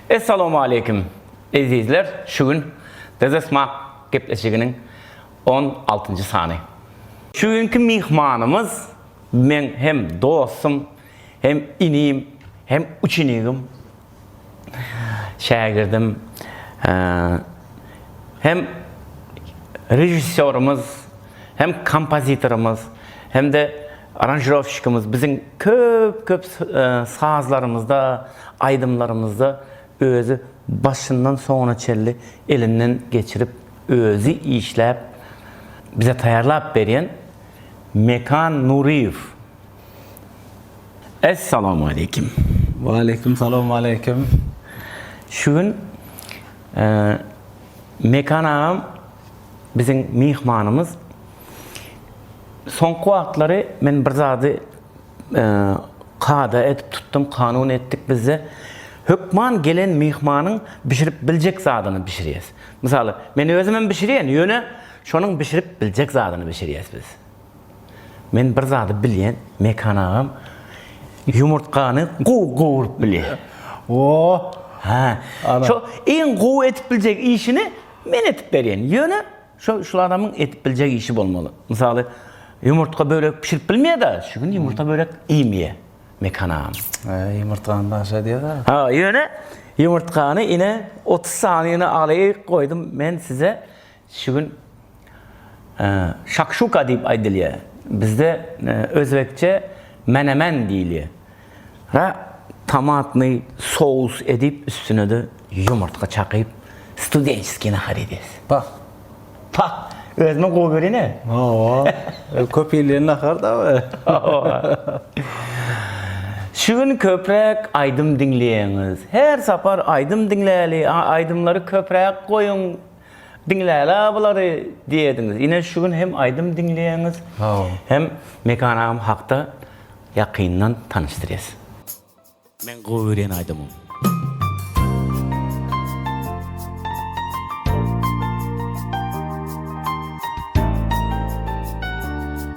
Essalawmaleýkim ezizler şu gün Dezesmak gepleşiginiň on altynjy sany. Şu günki myhmanymyz meň hem dostum hem inim hem uçinigim şägirdim hem režissýorymyz. hem kompozitorymyz, hem-de aranžirowşikimiz biziň köp-köp sazlarymyzda, aýdymlarymyzda özi başyndan soňuna çenli elinden geçirip, özi işläp, bize taýýarlap berýän Mekan Nuryýew. Essalawmaleýkim! Waleýkim salam, waleýkim. Şu gün Mekan agam Biziň myhmanymyz Soňky wagtlary men bir zady kada edip tutdum, kanun etdik bizde. Hökman gelen myhmanyň bişirip biljek zadyny bişirýäs. Mysal, men özüm hem bişirýän, ýöne şonuň bişirip biljek zadyny bişirýäs biz. Men bir zady bilýän, Mekan agam ýumurtgany gowy gowrup bilýär. Ooo. Hä. Şo iň gowy edip biljek işini Men edip berýän. Ýöne, şo şul adamyň edip biljek işi bolmaly. Mysaly, ýumurtga börek bişirip bilmeýär-de, şu gün ýumurta börek iýmeýär Mekan agam. Eý, ýumurtgany daşa diýer-ä. Ha, ýöne, ýumurtgany ine, otuz sanyny alaýyk goýdum men size. Şu gün şakşuka diýip aýdylýar. Bizde özbekçe menemen diýilýär. Ra tomatny sous edip üstünede ýumurtga çakyp studençeskiý nahar edýäs. Pah. Pah. Özüme gowy berene. Hawa. Köp iýilýän nahar da we. Hawa. Şu gün köpräk aýdym diňleýäňiz. Her sapar aýdym diňläli, aýdymlary köpräk goýuň. Diňläýlä bulary diýediňiz. Ine şu gün hem aýdym diňleýäňiz. Sagbol. Hem Mekan agam hakda ýakyndan tanyşdyrýas. Meň gowy görýän aýdymym.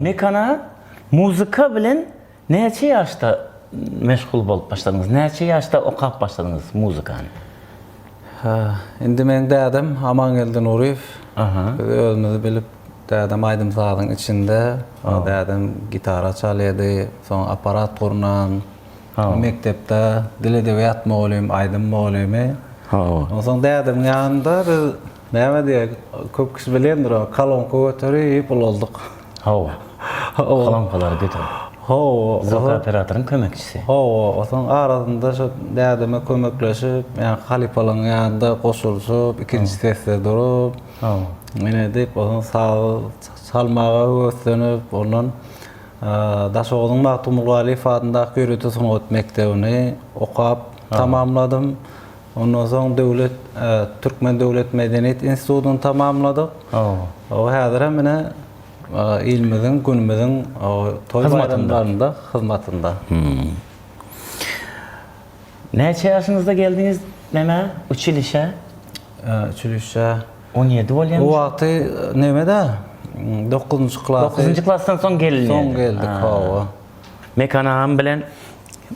Mekana muzyka bilen näçe ýaşda meşgul bolup başladyňyz? Näçe ýaşda okap başladyňyz muzykany? Hä, indi meň dädem Amangeldi Nuryýew. Biz özümizi bilip, dädem aýdym-sazyň içinde. Dädem gitara çalýardy, soň apparat gurnan. Mekdepde dil-edebiýat mugallym, aýdym mugallymy. Onsoň dädemiň ýanynda biz Näme diýek, köp kişi bilendir ony, kolonka göterip ulaldyk. Hawa. Kolonkalary göterip. Hawa. Zok operatoryň kömekçisi. Hawa, otaň arasynda şo dädeme kömekleşip, ýa halypalaryň ýanynda goşulyşyp, ikinji sesde durup. Hawa. Men edip, otaň sazy çalmaga höweslenip, ondan Daşoguzyň Magtymgulgalyýew adyndaky ýörite sungat mekdebini okap tamamladym. Ondan soň döwlet Türkmen döwlet medeniýet institutyny tamamladyk. O häzir hem ine ilimiziň, günümiziň toý baýramlarynda hyzmatynda. Näçe ýaşyňyzda geldiňiz nämä, uçilişä? Uçilişä. On ýedi bolýamyş. O wagty nämede, dokuzynjy klasy. Dokuzynjy klasdan soň gelindi. Soň geldik, hawa. Mekan agam bilen.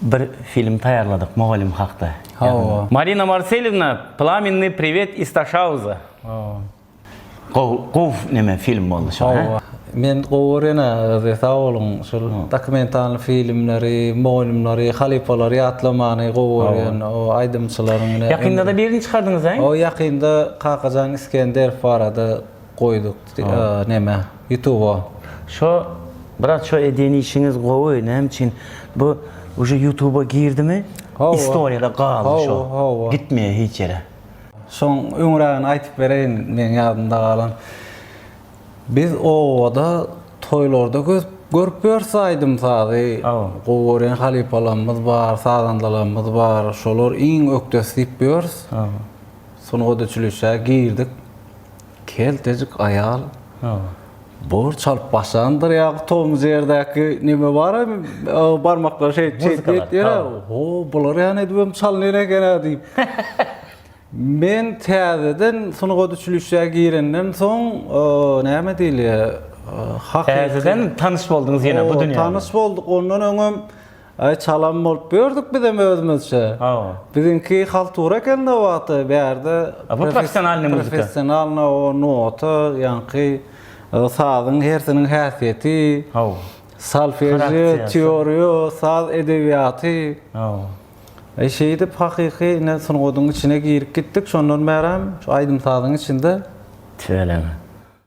bir film taýýarladyk mugallym hakda. Hawa. Marina Marselýewna, Plamennýy priwet iz Taşauza. Hawa. Gowy, gowy neme film boldy şo, hä? Hawa. Men gowy görýän agyzy, sag boluň. Şol dokumentalny filmleri, mugallymlary, halypalary ýatlamany gowy görýän. O aýdymçylaryň ine. Ýakynda-da birini çykardyňyz, aý? Hawa, ýakynda Kakajan Isgenderow barada. Goýduk neme ýutuba. Şo brat şo edýän işiňiz gowy näme üçin bu uje ýutuba girdimi istoriýada galdy şo gitmeýär hiç ýere. Şoň öňrägini aýtyp bereýin meň ýadymda galan biz obada toýlarda görüp ýörüs aýdym sazy gowy görýän halypalarymyz bar sazandalarymyz bar şolar iň ökdesi diýip ýörüs sungat uçilişä girdik Keltejik aýal borç alyp başlandyr ýa tomuz ýerdäki neme bar barmaklar şeýt şeýt etýär o bular ýa edibem çalynyr eken a diýip men täzeden sungat uçilişä girenden soň näme diýilýär täzeden tanyş bolduňyz ýene bu dünýä tanyş bolduk ondan öňem Aý çalan bolup gördük bizem özümizçe. Hawa. Biziňki haltura eken nowaty bärde. Bu professionalnyý muzika. Professionalnyý o nota ýaňky sazyň hersiniň häsiýeti. Hawa. Solfežio, teoriýa, saz edebiýaty. Hawa. Aý şeýdip hakyky ine sungatyň içine girip gitdik şondan bärem şu aýdym sazyň içinde. Tüweleme.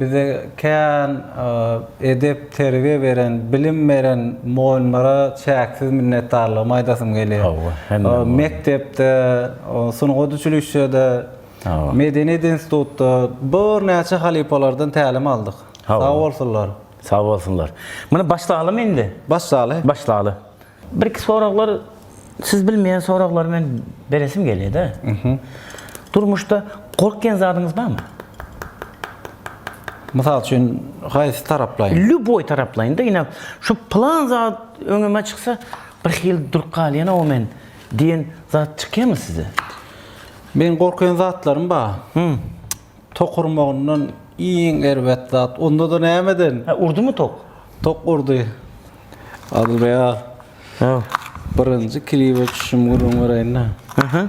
Bize kän edep-terbiýe beren, bilim beren mugallymlara çäksiz minnetdarlygymy aýdasym gelýär. Mekdepde, sungat uçilişşede Medeniýet institutda bir näçe halypalardan tälim aldyk. Sag bolsunlar. Sag bolsunlar. Muny başlalymy indi? Başlaly. Başlaly. Bir-iki soraglar siz bilmeýän soraglary men beresim gelýär-de. Durmuşda gorkýan zadyňyz barmy? Mysal üçin, haýsy taraplaýyn? Lýuboý taraplaýyn-da, ine, şu pylan zat öňüme çyksa, birhili durup galýan-ow men diýen zat çykýarmy size? Meň gorken zatlarym ba. Hum. Tok urmagyndan iň erbet zat. Onda-da nämeden? He, urdymy tok? Tok urdy. Adylbeg aga. Haw. Birinji klibe düşüşim gürrüň bereýin-dä. Aha.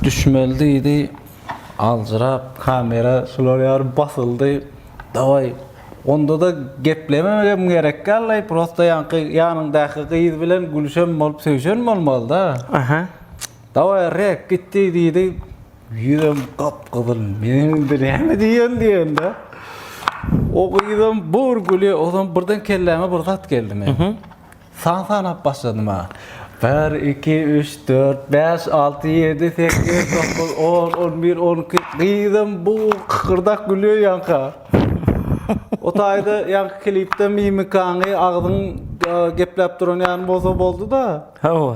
Düşmeli diýdi. Aljyrap kamera şular ýaly basyldy. Dawaý, Onda-da geplememegem gerek ýaly, prosta ýaňky ýanyňdaky gyz bilen gülüşen bolup söýşen bolmalyda. Aha. Dawaý, rek, gitdi, diýdi. Ýüzem gap-gyzyl. Men indi näme diýen diýende, o gyzam bir gülýär, ozam birden kelläme bir zat geldi meniň. San sanap başladym ha. Bir, iki, üç, dört, bäş, alty, ýedi, sekiz, dokuz, on, on bir, on iki. Gyzym bu kykyrdak gülýär ýaňka. O taýda ýaňky klipde mimikaňy, agzyň e, gepläp duran ýaly bolsa boldy-da. Hawa.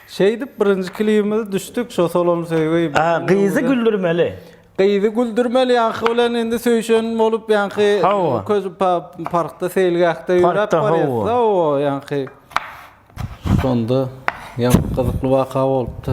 Şeýdip birinji klibimize düşdük, şo Solon söýgi. A, gyzy güldürmeli. Gyzy güldürmeli ýaňky bilen indi söýşen bolup ýaňky Hawa. köz pa- parkda seýilgähde ýöräp Parkda, hawa. barýas hawa ýaňky şonda ýaňky gyzykly waka bolupdy.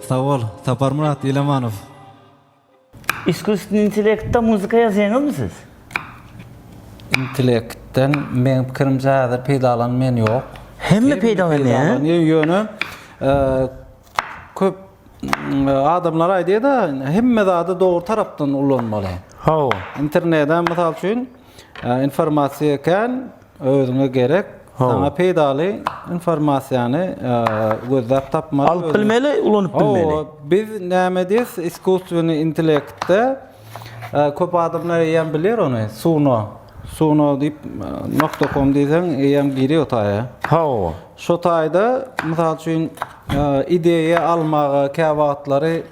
Sag bol, Saparmyrat Ilamanow! Iskusstwnniý intellektda muzika ýazýaňyzmy siz? Intellektden meň pikirimçe häzir peýdalanmaýan ýok. Hemme peýdalanýar. Ýöne köp adamlar aýdýar-da, hemme zady dogry tarapdan ulanmaly. Hawa. Internede, mysal üçin, Informasiýa kän, özüňe gerek, saňa peýdaly informasiýany gözläp tapmaly. Alyp bilmeli, ulanyp bilmeli. Hawa, biz näme diýs, iskusstweniý intellektde köp adamlar eýýäm biler ony, Suno. Suno diýip, nokta kom diýseň eýýäm girýär o taýa. Hawa. Şo taýda, mysal üçin, ideýa almaga käwagtlary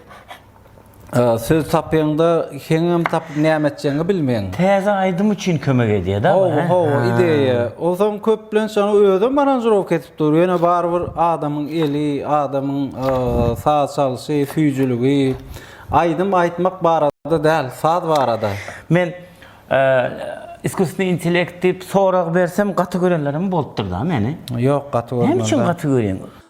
Söz tapyňda heňňam tapyp näme etjegiňi bilmeň. Täze aýdym üçin kömek edýär da bu. Hawa, hawa, ideýa. Onsoň köplenç ony özem aranžirowka edip dur. Ýöne barybir adamyň eli, adamyň saz çalşy, süýjüligi, aýdym aýtmak barada däl, saz barada. Men iskusstweniý intellekt diýip sorag bersem gaty görenlerim bolupdyr da meni. Ýok, gaty görmändir. Näme üçin gaty görýäň?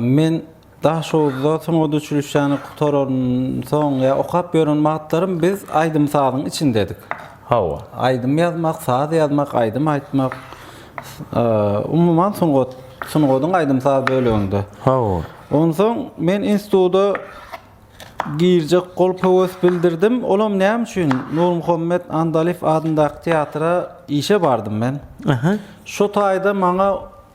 Men Daşoguzda sungat uçilişşäni gutaransoň ýa okap ýören wagtlarym biz aýdym-sazyň içindedik. Hawa, aýdym ýazmak, saz ýazmak, aýdym aýtmak, umuman sungat, sungatyň aýdym-saz böleginde. Hawa. Onsoň men instituta girjek bolup höwes bildirdim. Olam näme üçin Nurmuhammet Andalyýew adyndaky teatra işe bardym men. Aha. Şo taýda maňa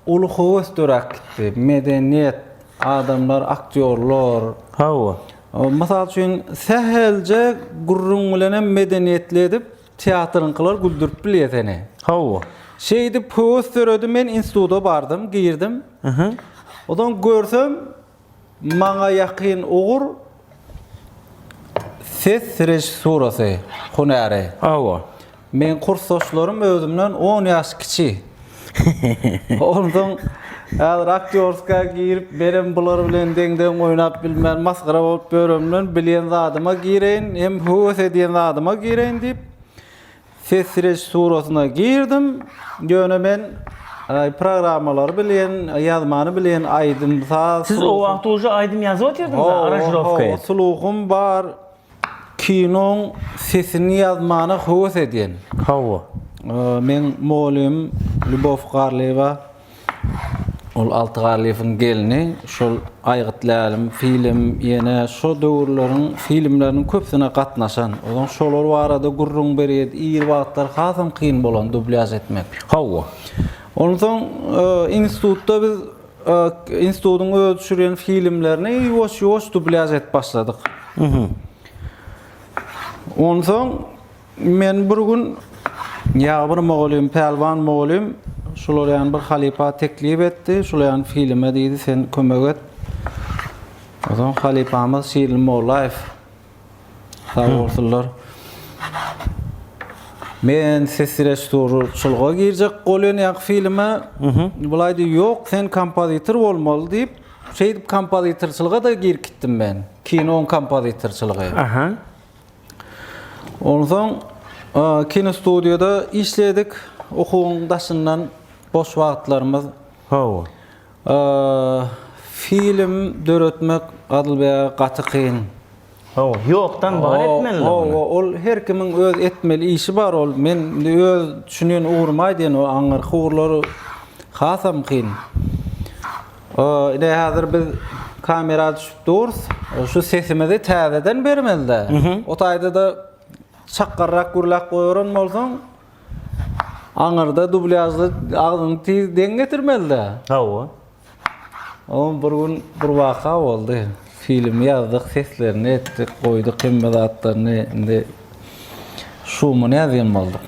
Uly höwes döräp gitdi. Medeniýet, adamlar, aktýorlar. Hawa. Mysal üçin, sähelje gürrüň bilenem medeniýetli edip, teatryňkylar güldürip bilýär seni. Hawa. Şeýdip höwes döredi, men instituta bardym, girdim. Onsoň görsem, Maňa ýakyn ugur ses režissurasy hünäri. Hawa. Meň kursdaşlarym özümden on ýaş kiçi. Onsoň häzir aktýorska girip menem bular bilen deň-deň oýnap bilmen, masgara bolup ýöremden bilýän zadyma gireýin, hem höwes edýän zadyma gireýin diýip, Ses režissurasyna girdim, ýöne men programmalary bilen, ýazmany bilen, aýdym, saz. Siz o wagt uje aýdym ýazyp otyrdyňyz, aranžirowka edip. Sluhum bar, kinoň sesini ýazmana höwes edýän. Hawa. Meň mogylym Lýubow Garlyýewa. Ol Alty Garlyýewiň gelni, şol Aýgyt Lälim film, ýene şo döwürleriň filmleriniň köpüsine gatnaşan. Ozan şolar barada gürrüň berýärdi. Ir wagtlar hasam kyn bolan dublýaž etmek. Hawa. Onsoň institutda biz institutyň özi düşürýän filmlerini ýuwaş-ýuwaş dublýaž edip başladyk. Onsoň Men bir gün ýa bir mogolym, pälwan mogolym şularýan bir halypa teklip etdi, şulaýan filime diýdi, sen kömek et. Ozan halypamyz Şirin Mollaýew. Sag bolsunlar. Men ses režissýory çulga girjek bolýan ýa filime. Bulaý diýdi, ýok, sen kompozitor bolmaly diýip, şeýdip kompozitorçylyga-da girkitdim men. Kinoň kompozitorçylygy. Aha. Onsoň kinostudiýada işledik. Okuwyň daşyndan boş wagtlarymyz. Hawa. Film döretmek Adylbeýe gaty kyn. Hawa, ýokdan bar etmeli. Hawa, ol her kimiň öz etmeli işi bar. Ol men indi öz düşünen ugrumy aýdýan, ol aňyrky ugurlary hasam kyn. Ine hazir biz kamera düşüp durus. Şu sesimizi täzeden bermelide. O taýda da çakgarrak gürläp goýaran bolsaň aňyrda dublýažda agzyňy tiz deň getirmelide. Hawa. O bir gün bir waka boldy. Filmi ýazdyk, seslerini etdik, goýduk hemme zatlaryny. Indi şumy näzýem bolduk.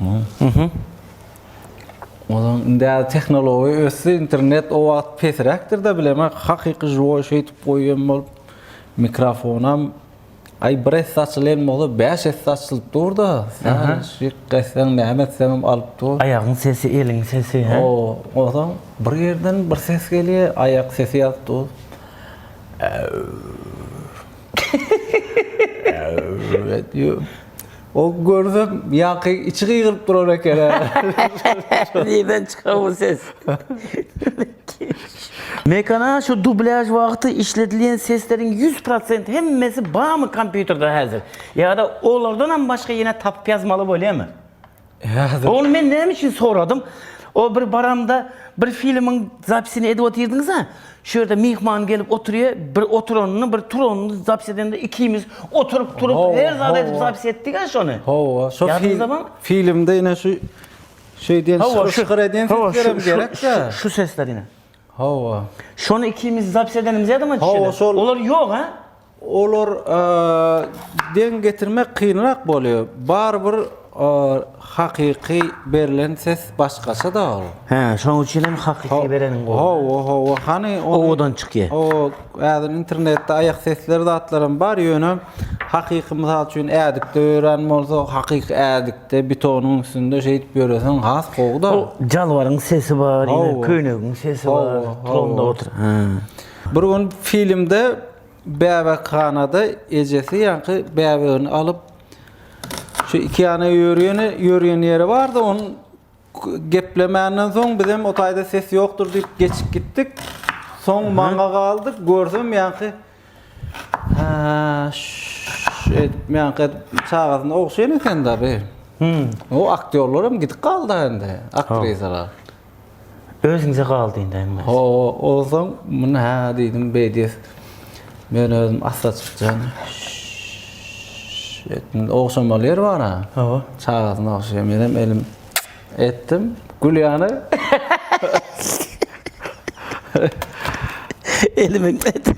Onuň indi tehnologiýa ösdi, internet o wagt pesräkdir-de bilemä, hakyky žiwoý şeýdip goýan bolup, mikrofonam aý bir esse açylan bolsa, bäş esse açylyp dur-da, şyk etseň, näme etseňem alyp dur. Aýagyň sesi, eliň sesi, hä? O, onsoň bir ýerden bir ses gelýär, aýak sesi ýazyp dur. Äw. Äw. O görse ýaňky içi gygyryp durar ekene. Nirden çyka bu ses? Mekana şu dublýaž wagty işledilýän sesleriň ýüz prosent hemmesi barmy kompýuterde häzir? Ýa-da olardanam başga ýene tapyp ýazmaly bolýamy? Häzir. Ony men näme üçin soradym? O bir baramda bir filmiň zapisini edip otyrdyňyz-a, şu ýerde myhman gelip oturýar, bir oturanyny, bir turanyny zapis edende ikimiz oturyp, turup, her zat edip zapis etdik-ä şony. Hawa, şo filmde ine şu şeýdýän şygyr-şygyr edýän seslerem gerek-dä. Şu sesler ine. Hawa. Şony ikimiz zapis edenimiz ýadyma düşýär. Olar ýok-a. Olar deň getirmek kynrak bolýar. Barybir hakyky berlen ses başgaça-da ol. Hä, şoň üçin hem hakyky bereniň gowy. Hawa, hawa. Hany ony owadan çykýar. Hawa, häzir internetde aýak sesleri zatlaram bar, ýöne hakyky mysal üçin ädikde ýören bolsa, hakyky ädikde betonyň üstünde şeýdip ýöreseň has gowy-da. Jalbaryň sesi bar, ýene köýnegiň sesi bar, tromda otur. Hä. Bir gün filmde bäbekhanada ejesi ýaňky bäbegini alyp şu iki ýana ýörýeni ýörýen ýeri bardy on geplemänden soň bizem o taýda ses ýokdur diýip geçip gitdik. Soň maňa galdy görsem ýaňky şeýdip ýaňky çagasyna ogşaýan eken-de be. O aktýorlaram gidip galdy indi aktrisalar. Özüňize galdy indi hemmesi. Ho, ozaň muny hä diýdim, beý diýes. Men özüm asla çykjan. Etdim. Ogşamaly ýer bar-a. Hawa. Çagasyny ogşaýar. Menem elim etdim. Gül ýany. Elimiň etdim.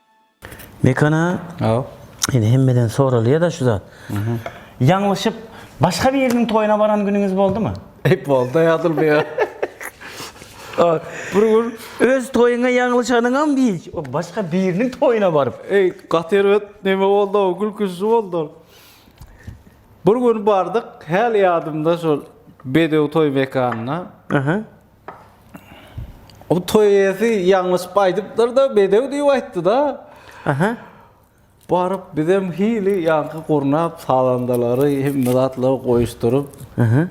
Mekana indi hemmeden soralýada şu zat. Ýalňyşyp başga biriniň toýuna baran günüňiz boldumy? Eý bolda ýazylmaýa. Bir gün öz toýuňa ýalňyşanyňam hiç, başga biriniň toýuna baryp. Eý gaty erbet neme bolda o gülküsli boldy ol. Bir gün bardyk häli ýadymda şol bedew toý mekanyna. O toýesi ýalňyşyp aýdypdyr-da, bedew diýip aýtdy-da. Aha. Baryp bizem hili ýaňky gurnap sazandalary hemme zatlary goýuşdyryp,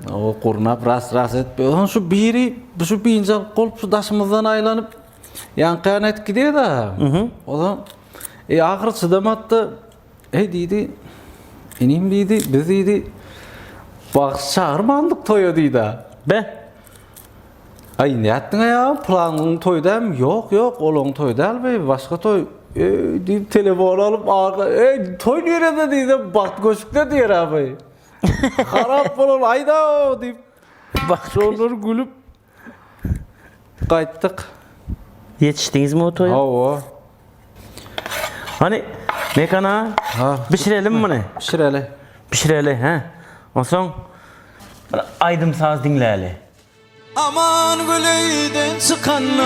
o gurnap ras-ras edip, onsoň şu biri şu biynjal bolup şu daşymyzdan aýlanyp ýaňky ýana edip gidýär-de. Onsoň e ahyry çydamady-da, Eý, diýdi, inim, diýdi, biz, diýdi, bagşy çagyrmandyk toýa, diýdi-ä. Be! Aý, nätdiň-ä ýalam, pylan gün toý dälmi? Ýok, ýok, ol oň toýy däl, beýbi, başga toý. Eý, diýip, telefony alyp, aňka, Eý, toý nirede? diýdi, Bagt köşkde diýer-ä, beý. Harap bol, ol aýda-ow, diýip, şonlar gülüp, Gaýtdyk. Ýetişdiňizmi o toýa? Hawa. Hany, Mekan aga? Ha. Bişirelim muny. Bişireli. Bişireli, hä? Onsoň bir aýdym-saz diňläli. Aman Gülüýden çykanda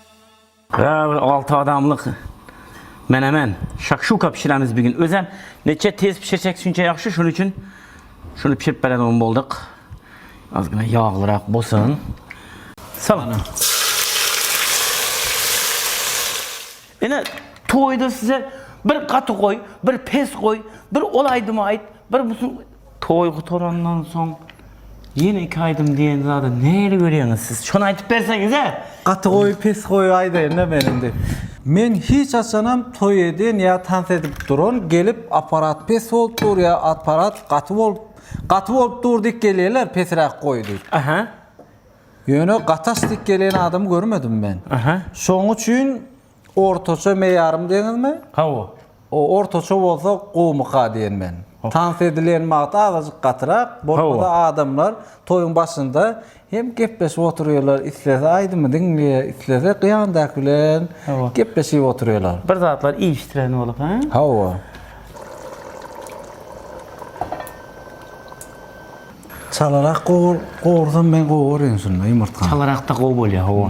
Ýa bir alty adamlyk menemen, şakşuka bişiremiz bir gün. Özem neçe tez bişirsek şunça ýagşy, şonuň üçin şuny bişirip beredigim bolduk. Azgyna ýaglyrak bolsun. Salana. Ine toýda size bir gaty goý, bir pes goý, bir ol aýdymy aýt, bir bu Toý gutarandan soň ýene iki aýdym diýen zady nähili görýäňiz siz? Şony aýdyp berseňiz-ä! Gaty gowy pes gowy aýdaýynda men indi. Men hiç haçanam toý eden ýa tans edip duran gelip aparat pes bolup dur ýa aparat gaty bolup gaty bolup dur diýip gelýärler pesiräk goý diýip. Aha. Ýöne gaty aç diýip gelen adam görmedim men. Aha. Şoň üçin Ortaça meýarym deňizmi? Hawa. O ortaça bolsa gowumyka diýen men. Tans edilen wagty azajyk gatyrak, bolmasa adamlar toýuň başynda hem gepleşip oturýarlar, islese aýdymy diňleýär, islese ýandaky bilen gepleşip oturýarlar. Bir zatlar iýişdireni bolup, hä? Hawa. Çalarak gowur, gowursam men gowuryn şunda ýumurtgany. Çalarakda gowy bolýar, hawa.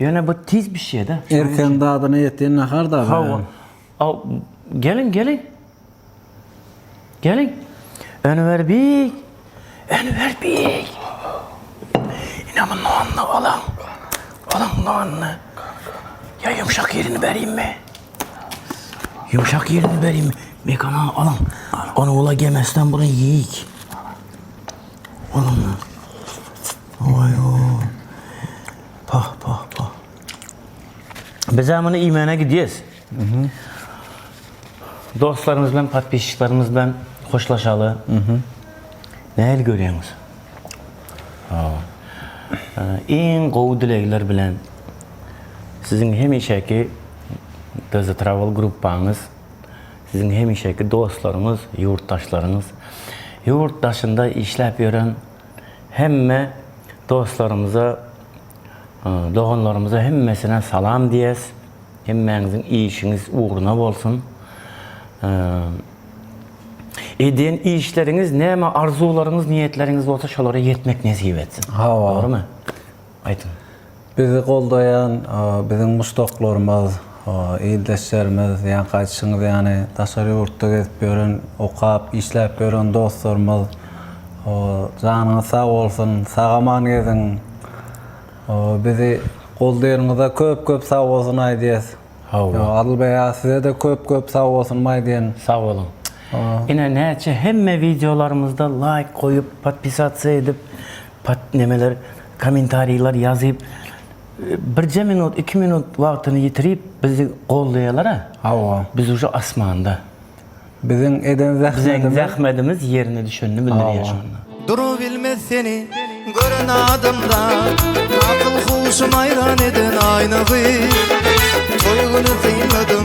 Ýöne bu tiz bişýär-de. Erken dadyna ýetýän nahar da. Hawa. Aw, geliň, geliň. Geliň. Önüwer beg. Önüwer beg. Ine bu nonny alaň. Alaň nonny. Ýa ýumşak ýerini berýinmi? Ýumşak ýerini berýinmi? Mekana alaň. Ony ula gemesden burun ýeýik. Alaň. Oý o. Pah pah pah. Bizä muny iýmäne gidýäs. Dostlarymyz bilen podpisçiklerimiz bilen hoşlaşaly. Nähili görýäňiz? Iň gowy dilegler bilen siziň hemişeki Dz Travel gruppaňyz, siziň hemişeki dostlaryňyz, ýurtdaşlaryňyz, ýurt daşynda işläp ýören hemme dostlarymyza doganlarymyza hemmesine salam diýes hemmäňiziň işiňiz ugruna bolsun edýän işleriňiz näme arzuwlaryňyz niýetleriňiz bolsa şolara ýetmek nesip etsin hawa dogrymy. Aýdyň. Bizi goldaýan biziň muşdaklarymyz, ildeşlerimiz, ýaňky aýdyşyňyz ýaly daşary ýurtda gezip ýören, okap, işläp ýören dostlarymyz. Janyňyz sag bolsun, sag-aman geziň. Bizi goldaýanyňyza köp-köp sag bolsun aýdýas. Adyl beýa size-de köp-köp sag bolsunymy aýdýan. Sag boluň. Ine näçe hemme wideolarymyzda laýk goýup, podpisasiýa edip, Pat nemeler komentariýler ýazyp birje minut iki minut wagtyny ýitirip bizi goldaýalara. Hawa. Biz uje asmanda. Biziň eden zähmetimiz. Zähmetimiz ýerine düşenini bildirýär şonda. Durubilmez seni gören adamda Akyl huşum aýran eden aýna gyz Toý güni synladym